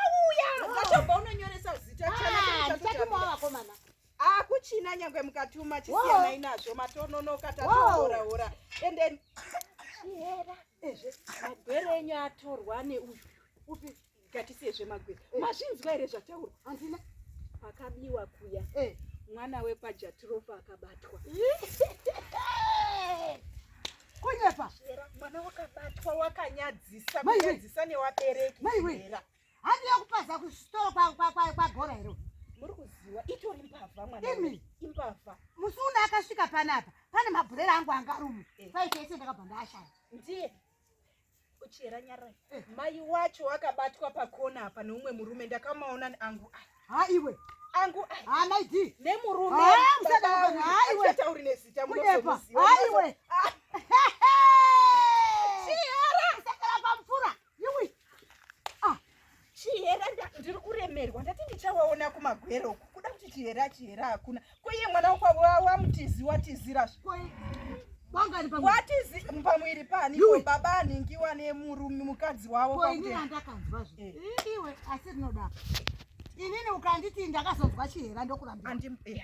auya zvatobva unonyoresa zita chaichatumawo vakomana akuchina nyangwe mukatuma chisiyanai nazvo matononoka tatohorahora and then chihera ezve magwere enyu atorwa neuyu upi gatisiye zvemagwere eh. mazvinzwa here zvataurwa handina pakabiwa kuya eh. mwana wekwajatirofa akabatwa Kunyepa. Mwana wakabatwa wakanyadzisa kunyadzisa newabereki. Maiwe. Handi yakupaza kusitoro kwa kwa kwa kwa bhora here. Muri kuziwa itori mbavha mwana. Imi imbavha. Musi una akasvika panapa. Pane mabhurera angu angarumu. Eh. Kwaite ese ndakabva ndashaya. Ndiye. Uchera nyara. Eh. Mai wacho wakabatwa pakona apa neumwe murume ndakamaona angu. Ha iwe. Angu. Ha maidi. Nemurume. Ha msada wangu. Ha iwe. Tauri nezita munozomuziwa. Ha iwe. chihera ndiri kuremerwa ndati ndichawaona kumagwero uku kuda kuti chihera chihera hakuna koiye mwana wakwavo wamutizi watizira watizi pamwiri pani baba aningiwa nemurume mukadzi wavo kwakuteandakanzwa zve eh. iwe asi rinoda inini ukanditi ndakazonzwa chihera ndokurambira andimdaro eh,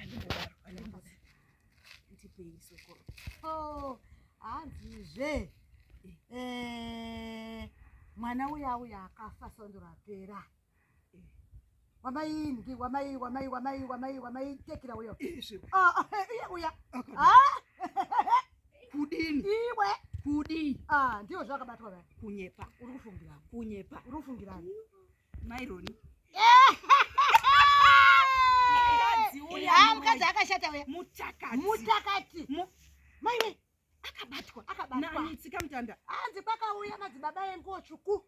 ndipeisekoro oh, hanzizve eh, mwana uya uya akafa sondo rapera wamai ngi wamai wamai wamai wamai wamai tekira uyo ah, ah, eh, iye uya ah. kudini iwe kudii ndiyo zvakabatwa kunyepa uri kufungira kunyepa uri kufungira maironi mukadzi akashata uya mutakati mutakati maiwe akabatwa akabatwa nitsika mutanda hanzi kwakauya madzibaba enguo tsvuku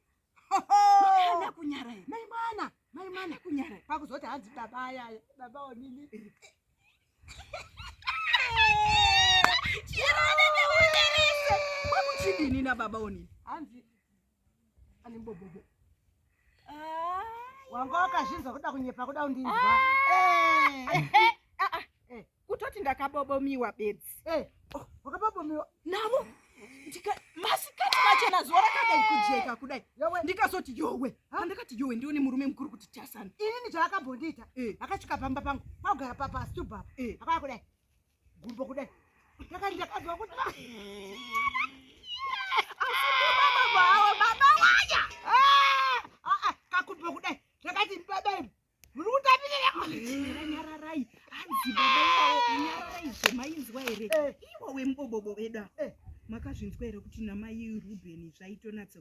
ana kunyara here mai mwana mai mwana kunyara pakuzoti hanzi baba ayaya baba onini chirone neunerese kwakuchidini nababa onini hanzi wanga wakazvinzwa kuda kunyepa kuda kundinzwa kutoti ndakabobomiwa bedzi oh, wakabobomiwa navo masikati machena zuva rakadai kujeka kudai ndikazoti yowe andikati yowe ndione murume mukuru kuti tasana inini zvaakambondiita akasvika pamba pangu kwagara papa stubhapa akaya kudai gumbo kudai ndaka ndakanzwa kuti kakumbo kudai ndakati baba imu muri kutapireranyararai hanzi baba iwawo nyararai zvemainzwa here iwo wemubobobo veda makazvinzwa here kuti namai rubheni zvaitonatsa